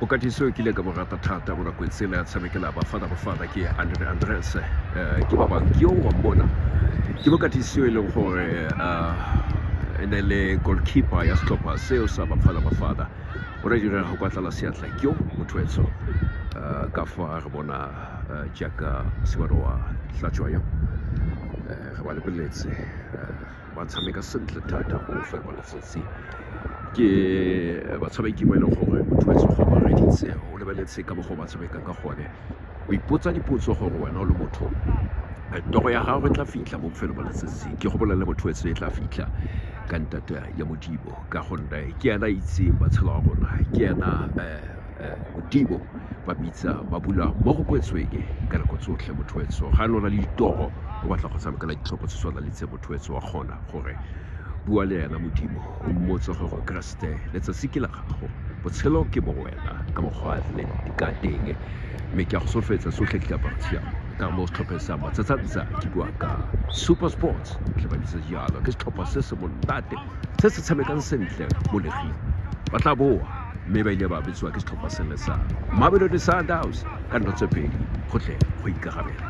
o ka tiso ke ile ka borata thata go nako tsela ya tshamekela bafana bafana ke andre andres eh, ke ba bang ke yo wa mbona ke bo ka tiso e leng gore eh, e ne le goalkeeper ya setlhopha seo sa bafana bafana o re direga go kwatlala seatla ke yo motho etso eh, ka fa re bona eh, jaaka sebaro wa tlatšwa yo eh, re ba lebeletse eh, ba tshameka sentle thata go fa kwa letsatsi ke batshameki ba e leng gore o duetse go bareditse o lebeletse ka bogo ba tshameka ka gone o ipotsa dipotso gore wena o le motho toro ya gago e tla fitlha mo bofelo ba letsatsi ke go bolelele motho etse e tla fitlha ka ntata ya modimo ka gonne ke ena itseng matshelo a rona ke ena um eh, modimo ba bitsa ba bula mo go kwetsweng ka nako tsotlhe mothoetso ga lona le ditoro o batla go tshamekela ditlhopho tse tshwana le tse mothoetso wa kgona gore bua le ena modimo o mmotse gore keresete letsatsi ke la gago botshelo ke mo wena ka mokgwa le ka teng mme ke a go solofetsa tsotlhe ke diaparo tshiamo ka mo setlhopheng sa matsatsantsha ke bua ka super sports tle ba bitsa jalo ke setlhopha se se monate se se tshamekang sentle mo leging ba tla boa mme ba ile ba betsiwa ke setlhopha sene sa Mamelodi Sundowns ka dilo tse pedi go tle go ikarabela.